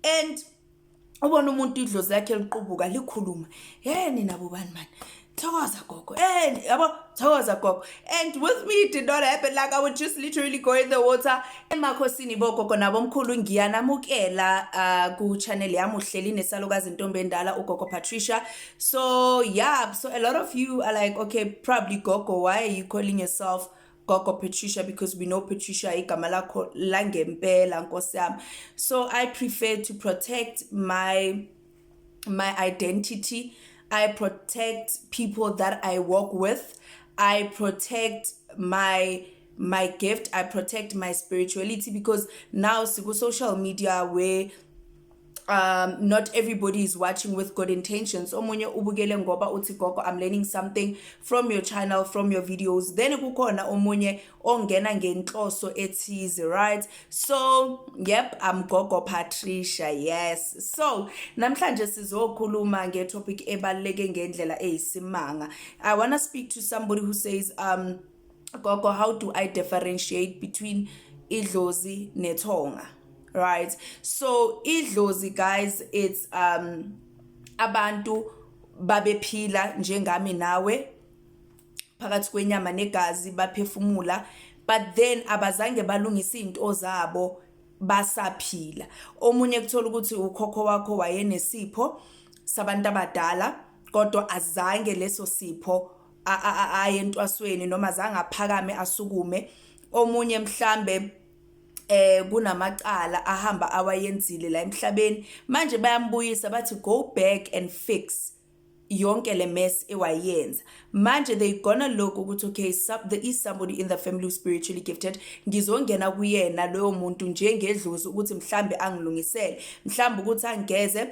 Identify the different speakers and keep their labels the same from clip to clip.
Speaker 1: and ubona umuntu idlozi lakhe liqubuka likhuluma hey nina bobani mani thokoza gogo and yabo thokoza gogo and with me it did not happen like i would just literally go in the water emakhosini bogogo nabo mkhulu ngiyanamukela uh, ku channel yami uhleli nesalukazi intombi endala ugogo patricia so yeah so a lot of you are like okay probably gogo why are you calling yourself gogo Patricia because we know Patricia igama lakho langempela nkosi yami so i prefer to protect my my identity i protect people that i work with i protect my my gift i protect my spirituality because now siku social media where um not everybody is watching with good intentions omunye ubukele ngoba uthi gogo i'm learning something from your channel from your videos then kukhona omunye ongena ngenhloso ethize right so yep i'm gogo patricia yes so namhlanje sizokhuluma ngetopic ebaluleke ngendlela eyisimanga i want to speak to somebody who says um gogo how do i differentiate between idlozi nethonga right so idlozi guys it's um abantu babephila njengami nawe phakathi kwenyama negazi baphefumula but then abazange balungisa izinto zabo basaphila omunye kuthola ukuthi ukhokho wakho wayenesipho sabantu abadala kodwa azange leso sipho aye entwasweni noma zange aphakame asukume omunye mhlambe eh kunamacala ahamba awayenzile la emhlabeni manje bayambuyisa bathi go back and fix yonke le mess ewayenza manje they gonna look ukuthi okay sub, there is somebody in the family who spiritually gifted ngizongena kuyena loyo muntu njengedlozi ukuthi mhlambe angilungisele mhlambe ukuthi angigeze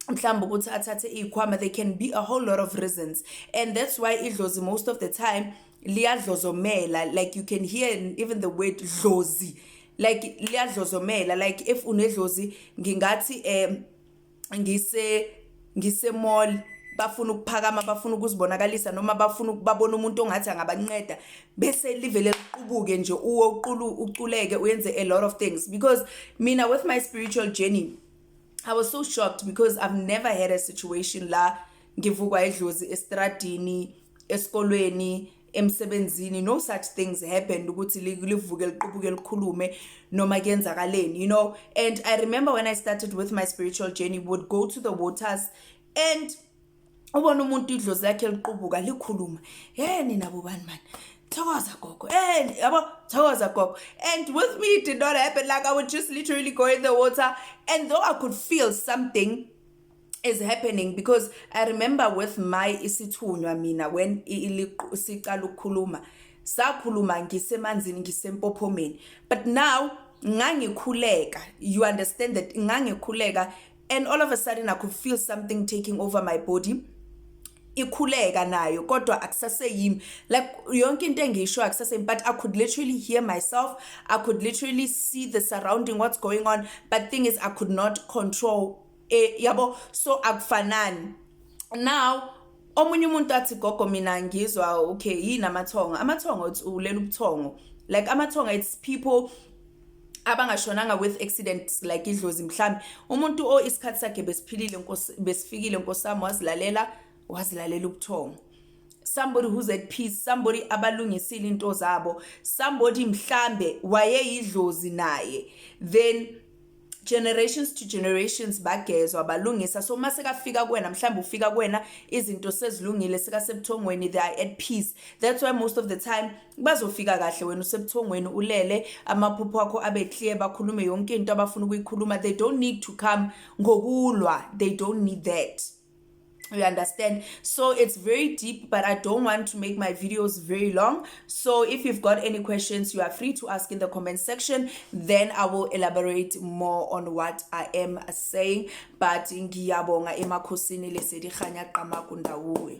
Speaker 1: mhlawumbe ukuthi athathe iy'khwama they can be a whole lot of reasons and that's why idlozi most of the time liyadlozomela like you can hear even the word dlozi like liyadlozomela like if unedlozi ngingathi um ngise ngise mall bafuna ukuphakama bafuna ukuzibonakalisa noma bafuna ukubabona umuntu ongathi angabanceda bese livele liqubuke nje uwo uqulu uculeke uyenze a lot of things because mina with my spiritual journey I was so shocked because I've never had a situation la ngivukwa idlozi estradini esikolweni emsebenzini no such things happened ukuthi livuke liqubuke likhulume noma kuyenzakaleni you know and i remember when i started with my spiritual journey would go to the waters and ubona umuntu idlozi lakhe liqubuka likhuluma he nina bobani mani thokoza gogo and yabo thokoza gogo and with me it did not happen like i would just literally go in the water and though i could feel something is happening because i remember with my isithunywa mina when siqala ukukhuluma sakhuluma ngisemanzini ngisempophomeni but now ngangikhuleka you understand that ngangikhuleka and all of a sudden i could feel something taking over my body ikhuleka nayo kodwa akusaseyimi like yonke into engiyisho akusaseyimi but i could literally hear myself i could literally see the surrounding what's going on but thing is i could not control eh yabo so akufanani now omunye umuntu athi gogo mina ngizwa okay yini amathongo amathongo ulela ubuthongo like amathongo it's people abangashonanga with accidents like idlozi mhlambe umuntu o isikhathi sakhe besiphilile nkosi besifikile nkosami wazilalela wazilalela ubuthongo somebody who's at peace somebody abalungisile into zabo somebody mhlambe wayeyidlozi naye then generations to generations bagezwa balungisa so uma sekafika kuwena mhlawumbe ufika kuwena izinto sezilungile sekasebuthongweni they are at peace that's why most of the time bazofika kahle wena usebuthongweni ulele amaphupho akho abe clear bakhulume yonke into abafuna ukuyikhuluma they don't need to come ngokulwa they don't need that you understand so it's very deep but i don't want to make my videos very long so if you've got any questions you are free to ask in the comment section then i will elaborate more on what i am saying but ngiyabonga emakhosini lesediganya qamaku ndawuwe